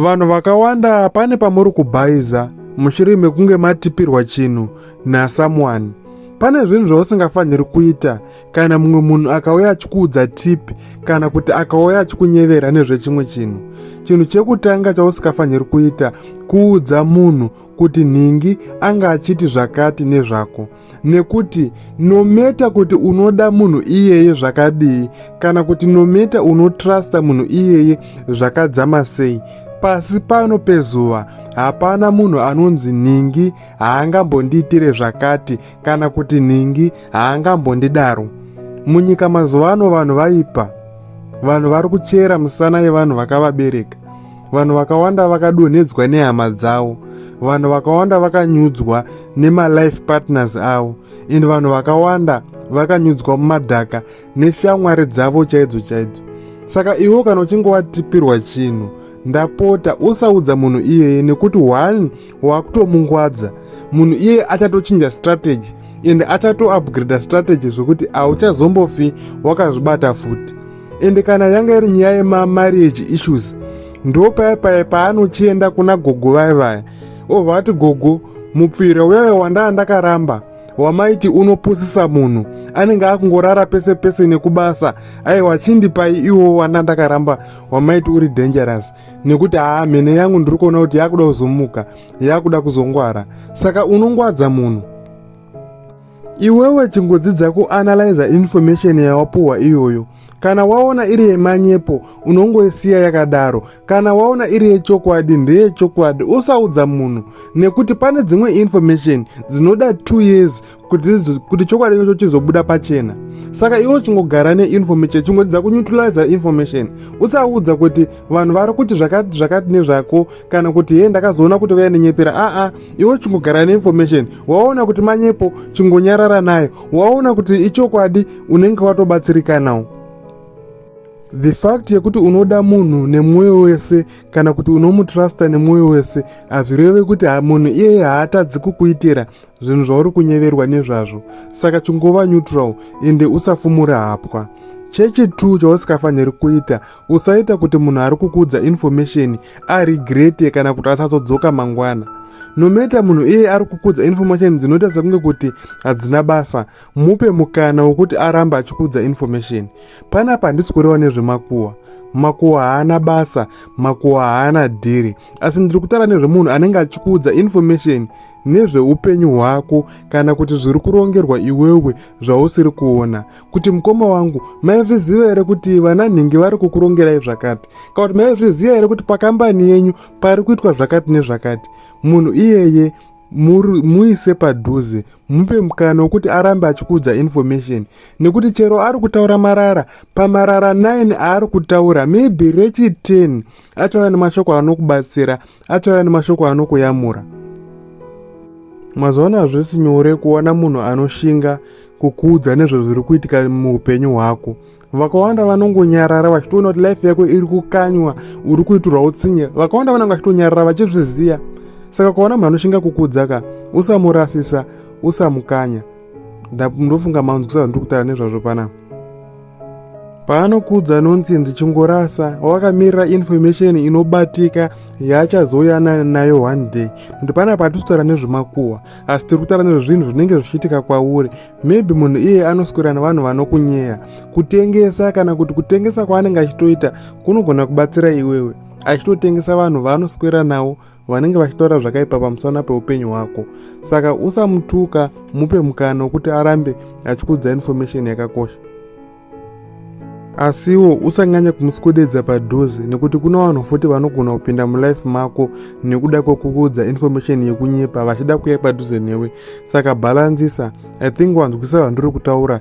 Vanhu vakawanda pane pamuri kubhaiza mushure mekunge matipirwa chinhu nasomeone. Pane zvinhu zvausingafaniri kuita kana mumwe munhu akauya achikuudza tip kana kuti akauya achikunyevera nezvechimwe chinhu. Chinhu chekutanga chausingafaniri kuita kuudza munhu kuti nhingi anga achiti zvakati nezvako. nekuti nometa kuti unoda munhu iyeye zvakadii kana kuti nometa unotrusta munhu iyeye zvakadzama sei pasi pano pezuva hapana munhu anonzi nhingi haangambondiitire zvakati kana kuti nhingi haangambondidaro munyika mazuva ano vanhu vaipa vanhu vari kuchera musana yevanhu vakavabereka vanhu vakawanda vakadonhedzwa nehama dzavo vanhu vakawanda vakanyudzwa nemalife partners avo and vanhu vakawanda vakanyudzwa mumadhaka neshamwari dzavo chaidzo chaidzo saka iwo kana uchinge watipirwa chinhu ndapota usaudza munhu iyeye nekuti one wakutomungwadza munhu iye achatochinja strategy ende achatoupgrada strategy zvekuti hauchazombofi wakazvibata futi ende kana yanga iri nyaya yemamarriage issues ndo paya paya paanochienda kuna gogo vaye vaya obva ati gogo mupfira uyayo wandaa ndakaramba wamaiti unopusisa munhu anenge akungorara pese pese nekubasa aiwa chindipai iwo wanda ndakaramba wamaiti uri dangerous nekuti haa mhene yangu ndiri kuona kuti yakuda kuzomuka yakuda kuzongwara saka unongwadza munhu iwewe chingodzidza kuanalyza information yawapuhwa iyoyo kana waona iri yemanyepo unongoisiya yakadaro kana waona iri yechokwadi ndeyechokwadi usaudza munhu nekuti pane dzimwe information dzinoda two years kuti chokwadi chacho chizobuda pachena saka iwe uchingogara neinformation chingodzidza kuneutiliza information usaudza kuti vanhu vari kuti zvakati zvakati nezvako kana kuti hee ndakazoona kuti vaya nenyepera aa iwe uchingogara neinformation waona kuti manyepo chingonyarara nayo waona kuti ichokwadi unenge watobatsirikanawo the fact yekuti unoda munhu nemwoyo wese kana kuti unomutrusta nemwoyo wese hazvireve kuti munhu iyeye haatadzi kukuitira zvinhu zvauri kunyeverwa nezvazvo saka chingova neutral ende usafumura hapwa chechi 2 chausikafaniri kuita usaita kuti munhu ari kukuudza information aregrete kana kuti asazodzoka mangwana nometa munhu iye ari kukuudza information dzinoita sekunge kuti hadzina basa mupe mukana wokuti arambe achikuudza information panapa handisi kureva nezvemakuwa makuwa haana basa makuwa haana dhiri asi ndiri kutaura nezvemunhu anenge achikuudza information nezveupenyu hwako kana kuti zviri kurongerwa iwewe zvausiri kuona kuti mukoma wangu maizviziva here kuti vananhingi vari kukurongerai zvakati kana kuti maizviziva here kuti pakambani yenyu pari kuitwa zvakati nezvakati munhu iyeye muise padhuze mupe mukana wekuti arambe achikuudza information nekuti chero ari kutaura marara pamarara 9 aari kutaura maybe rechi 10 achava nemashoko anokubatsira achauya nemashoko anokuyamura mazoona hazvisi nyore kuona munhu anoshinga kukuudza nezvezviri kuitika muupenyu hwako vakawanda vanongonyarara vachitoona kuti life yako iri kukanywa uri kuitirwa utsinye vakawanda vanenge vachitonyarara vachizviziva saka ukaona munhu anoshinga kukuudza ka usamurasisa usamukanya ndofunga maunzi kusazva ndiri kutaura nezvazvo panapa paanokuudza anonzi nzi chingorasa wakamirira information inobatika yaachazoyana nayo one day nokuti pana patisi kutaura nezvemakuhwa asi tiri kutaura nezvezvinhu zvinenge zvichiitika kwauri maybe munhu iye anoswera nevanhu vanokunyeya kutengesa kana kuti kutengesa kwaanenge achitoita kunogona kubatsira iwewe achitotengesa vanhu vaanoswera nawo vanenge vachitaura zvakaipa pamusana peupenyu hwako saka usamutuka mupe mukana wekuti arambe achikuudza information yakakosha asiwo usanyanya kumuswededza padhuze nekuti kuna vanhu futi vanogona kupinda mulife mako nekuda kwekukuudza information yekunyepa vachida kuya padhuze newe saka bhalanzisa i think wanzwisa zvandiri kutaura